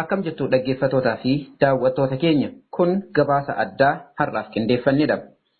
Akkam jirtu dhaggeeffatootaa fi daawwattoota keenya. Kun gabaasa addaa har'aaf qindeeffannedha.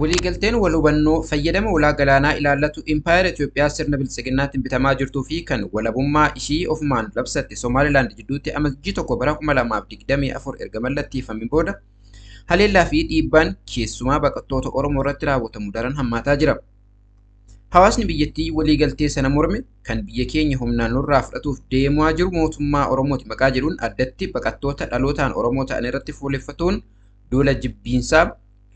Waliigalteen wal hubannoo fayyadama ulaa galaanaa ilaallatu Impaayera Itoophiyaa sirna biltsiginnaatiin bitamaa jirtuu fi kan walabummaa ishii ofumaan labsatte Somaalilaand jidduutti Amajjii 1 bara 2024 erga mallatteeffamee booda haleellaa fi dhiibbaan keessumaa baqattoota Oromoo irratti raawwatamu daran hammaataa jira. Hawaasni biyyattii waliigaltee sana morme kan biyya keenya humnaan nurraa fudhatuuf deemaa jiru mootummaa Oromooti maqaa jedhuun addatti baqattoota dhalootaan Oromoo ta'an irratti fuuleffatuun duula jibbiinsaa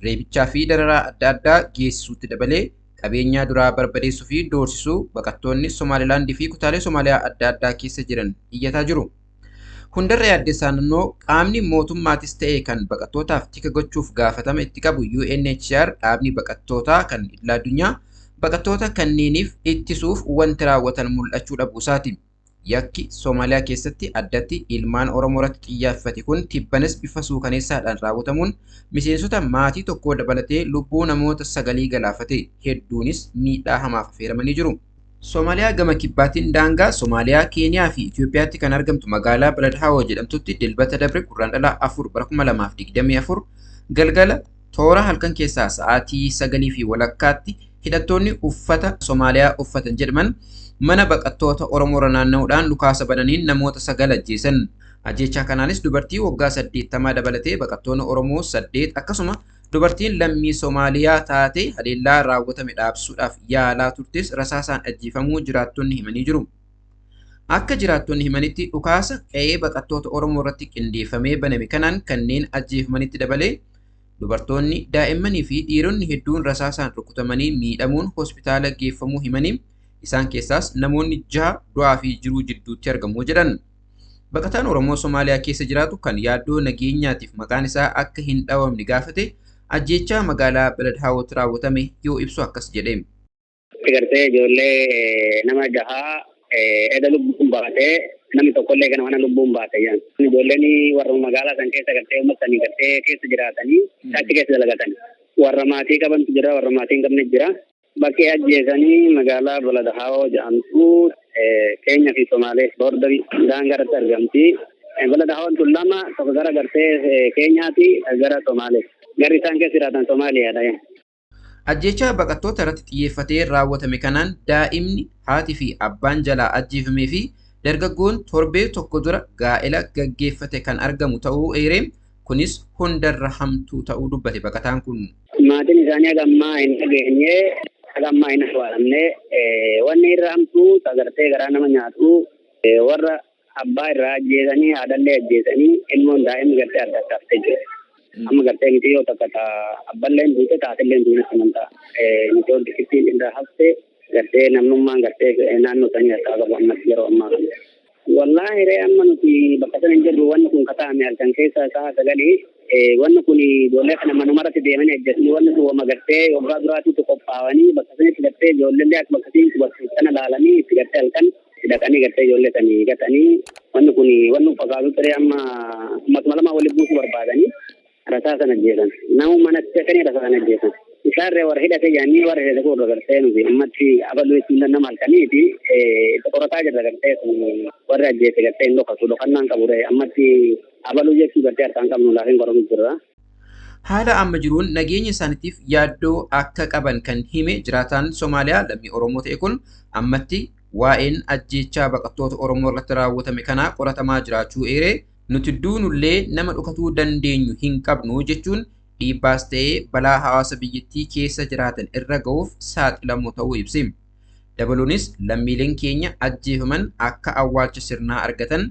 reebichaa fi dararaa adda addaa geessisuutti dabalee qabeenyaa duraa barbadeessuu fi doorsisuu baqattoonni Somaalilaand fi kutaalee Somaaliyaa adda addaa keessa jiran iyyataa jiru. Hundarra yaaddessaan immoo qaamni mootummaatis ta'e kan baqattootaaf tika gochuuf gaafatama itti qabu UNHCR dhaabni baqattootaa kan idil-addunyaa baqattoota kanneeniif ittisuuf wanti raawwatan mul'achuu dhabuu isaati. Yakki Somaaliyaa keessatti addatti ilmaan Oromoo irratti xiyyaafate kun tibbanas bifa suukaneessaadhaan raawwatamuun miseensota maatii tokkoo dabalatee lubbuu namoota sagalii galaafate, hedduunis miidhaa hamaaf afeeramanii jiru. Somaaliyaa gama kibbaatiin daangaa Somaaliyaa, Keeniyaa fi Itoophiyaatti kan argamtu magaalaa Balad Hawo jedhamtutti Dilbata dabre Gurraandhala 4 bara 2024 galgala Toora halkan keessaa sa'aatii sagalii fi walakkaatti hidhattoonni uffata Somaaliyaa uffatan jedhman mana baqattoota Oromoorra naanna'uudhaan dhukaasa bananiin namoota sagal ajjeesan. Ajjeechaa kanaanis dubartii waggaa saddeettamaa dabalatee baqattoonni Oromoo saddeet akkasuma dubartiin lammii Somaaliyaa taate haleellaa raawwatame dhaabsuudhaaf yaalaa turtes rasaasaan ajjeefamuu jiraattonni himanii jiru. Akka jiraattonni himanitti dhukaasa qe'ee baqattoota Oromoo irratti qindeeffamee baname kanaan kanneen ajjeefamanitti dabalee dubartoonni, daa'immanii fi dhiironni hedduun rasaasaan rukutamanii miidhamuun hospitaala geeffamuu himanii isaan keessaas namoonni jaha du'aa fi jiruu jidduutti argamu jedhan. Baqataan Oromoo Somaaliyaa keessa jiraatu kan yaaddoo nageenyaatiif maqaan isaa akka hin dhawamne gaafate ajjeechaa magaalaa Beledhaawootti raawwatame yoo ibsu akkas jedhe. Itti gartee ijoollee nama jahaa eda lubbuun baatee namni tokkollee gana mana lubbuun baate jedhan. Ijoolleen warra magaalaa san keessa gartee uummata sanii gartee keessa jiraatanii achi keessa dalagatan. Warra maatii qabantu jira warra maatii hin qabne jira. Bakkee ajjeesanii magaalaa Balada Haawoo jedhamtu Keenyaa fi Somaalee boordarii daangaa irratti argamti. Balada Haawoon tun lama tokko gara gartee Keenyaati gara Somaalee. Garri isaan keessa jiraatan Somaaliyaadha. Ajjeechaa baqattoota irratti xiyyeeffatee raawwatame kanaan daa'imni, haati fi abbaan jalaa ajjeefamee fi dargaggoon torbee tokko dura gaa'ela gaggeeffate kan argamu ta'uu eeree, kunis hundarra hamtuu ta'uu dubbate baqataan kun. Maatiin isaanii haga ammaa hin dhageenye, haga ammaa hin awwaalamne. Wanni irra hamtuu, ta gartee garaa nama nyaatu, warra Abbaa irraa ajjeesanii haadhallee ajjeesanii ilmoon daa'imni gartee adda adda haftee jirti. Amma gartee miti yoo takka ta abballeen duute taatilleen duune amantaa mitoon xiqqittiin irraa haftee gartee namnummaan gartee naannoo sanii harkaa qabu ammas yeroo ammaa kana. Wallaahi ree amma nuti bakka sana hin jirru wanni kun kataa'ame halkan keessa sa'a sagalii wanni kun ijoollee kana manumarratti deemanii ajjeesanii wanni kun wama gartee waggaa duraatiitu qophaa'anii bakka sanitti gartee ijoollee akka bakka sanitti bakka sana laalanii itti gartee halkan Hidhatanii gartee ijoollee sanii gatanii wanni kun wanni fakkaatu ture amma ummatuma lamaa walitti buusuu barbaadanii rasaa sana ajjeesan. Nama mana seetanii rasaa sana ajjeesan. Isaarree warra hidhatee jedhanii warra hidhate kun gartee nuti ammatti abaluu jechuun danda'ama halkaniiti itti qorataa jirra gartee warri ajjeese gartee hin dhokatu dhokannaan qabu ammatti abaluu jechuu gartee harkaan qabnu laafiin qoratuu jirra. Haala amma jiruun nageenya isaaniitiif yaaddoo akka qaban kan hime jiraataan Somaaliyaa lammii Oromoo ta'e kun, ammatti waa'een ajjeechaa baqattoota Oromoo irratti raawwatame kanaa qoratamaa jiraachuu eeree, nuti duunullee nama dhokatuu dandeenyu hin qabnu jechuun dhiibbaas ta'e balaa hawaasa biyyattii keessa jiraatan irra ga'uuf saaxilamoo ta'uu ibse. Dabaluunis lammiileen keenya ajjeefaman akka awwaalcha sirnaa argatan,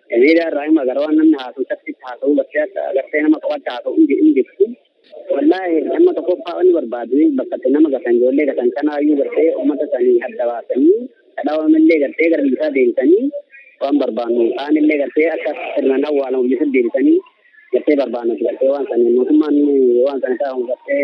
Miidiyaa irraa hima gara waan namni haasa'u catti haasa'u gartee akka gartee nama qofaatti haasa'u hin hin jirtu. Wallaahi amma tokkoffaa wanni barbaadu bakka itti nama gatan ijoollee gatan kanaayyuu gartee uummata sanii adda baasanii kadhaawamillee gartee gara biyyisaa deemsanii waan barbaannu kaanillee gartee akka sirnaan awwaalamu biyyisa deebisanii gartee barbaannuti gartee waan sanii mootummaan waan sana taa'u gartee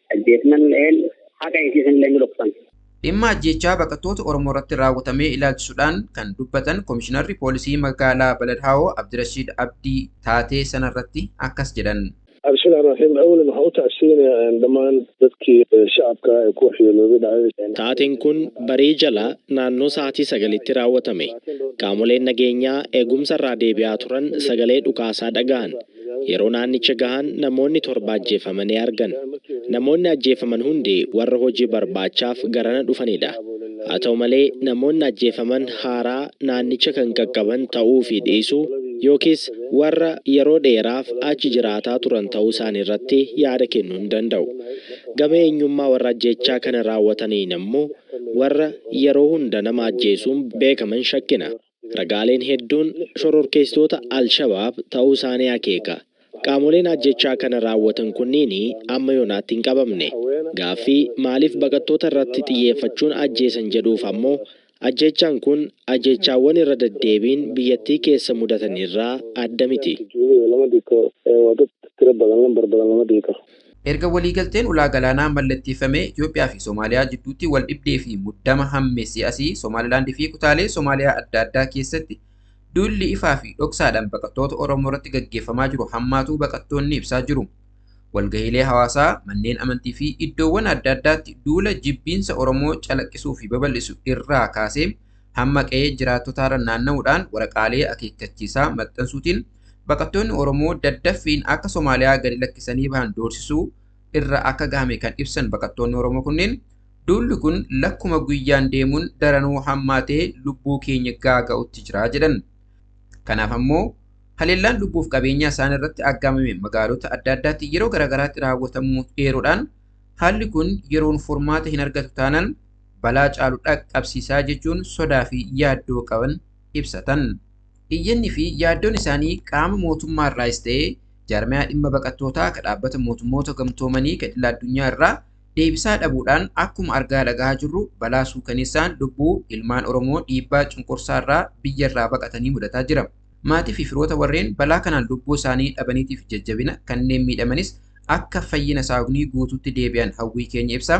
ajjeefnalleen haqa isiisanillee ni dhoksan. Dhimma ajjeechaa baqattoota Oromoorratti raawwatamee ilaalchisuudhaan kan dubbatan Komishinarri Poolisii Magaalaa Balad Haawoo Abdirashiid Abdii taatee sanarratti akkas jedhan. Bismillah Rahim Awwalan waxaan u tacsiyeynayaa dhammaan dadkii shacabka ee ku waxyeeloobay dhacdadii. Taateen kun barii jala naannoo sa'aatii sagalitti raawwatame. Qaamoleen nageenyaa eegumsa irraa deebi'aa turan sagalee dhukaasaa dhagahan. Yeroo naannicha gahan namoonni torba ajjeefamanii argan. Namoonni ajjeefaman hundi warra hojii barbaachaaf garana dhufanidha. Haa ta'u malee, namoonni ajjeefaman haaraa naannicha kan qaqqaban ta'uu fi dhiisuu yookiis warra yeroo dheeraaf achi jiraataa turan ta'uu isaaniirratti yaada kennuu hin danda'u. Gama eenyummaa warra ajjeechaa kana raawwataniin ammoo warra yeroo hunda nama ajjeesuun beekaman shakkina. Ragaaleen hedduun shororkeessitoota al-Shabaab ta'uu isaanii akeeka. Qaamoleen ajjeechaa kana raawwatan kunniin amma yoonaatti hin qabamne. Gaaffii maaliif baqattoota irratti xiyyeeffachuun ajjeesan jedhuuf ammoo ajjeechaan kun ajjeechaawwan irra deddeebiin biyyattii keessa mudatan irraa adda miti. Erga waliigalteen ulaa galaanaa mallatteeffamee Itoophiyaa fi Somaaliyaa jidduutti waldhibdee fi muddama hammeessee asii Somaalilaand fi kutaalee Somaaliyaa adda addaa keessatti duulli ifaa fi dhoksaadhaan baqattoota Oromoo irratti gaggeeffamaa jiru hammaatuu baqattoonni ibsaa jiru. Walgahiilee hawaasaa, manneen amantii fi iddoowwan adda addaatti duula jibbiinsa Oromoo calaqqisuu fi babal'isu irraa kaasee hamma qe'ee jiraattotaarra naanna'uudhaan waraqaalee akeekkachiisaa maxxansuutiin baqattoonni Oromoo daddaffiin akka Somaaliyaa gadi lakkisanii bahan doorsisuu irra akka gahame kan ibsan baqattoonni Oromoo kunneen duulli kun lakkuma guyyaan deemuun daranuu hammaatee lubbuu keenya gaaga'utti jira jedhan. Kanaaf ammoo haleellaan lubbuuf qabeenyaa isaan irratti aggaamame magaalota adda addaatti yeroo garaagaraatti raawwatamuu eeruudhaan haalli kun yeroon furmaata hin argatu taanaan balaa caalu dhaqqabsiisaa jechuun sodaa fi yaaddoo qaban ibsatan. Iyyanni fi yaaddoon isaanii qaama mootummaa irraayis ta'ee jaarmayaa dhimma baqattootaa ka Dhaabbata Mootummoota Gamtoomanii ka idil addunyaa irraa deebisaa dhabuudhaan akkuma argaa dhagahaa jirru balaa suukaneessaan lubbuu ilmaan Oromoo dhiibbaa cunqursaa irraa biyya irraa baqatanii mudataa jira. Maatii fi firoota warreen balaa kanaan lubbuu isaanii dhabaniitiif jajjabina, kanneen miidhamanis akka fayyina saaugnii guutuutti deebi'an hawwii keenya ibsaa.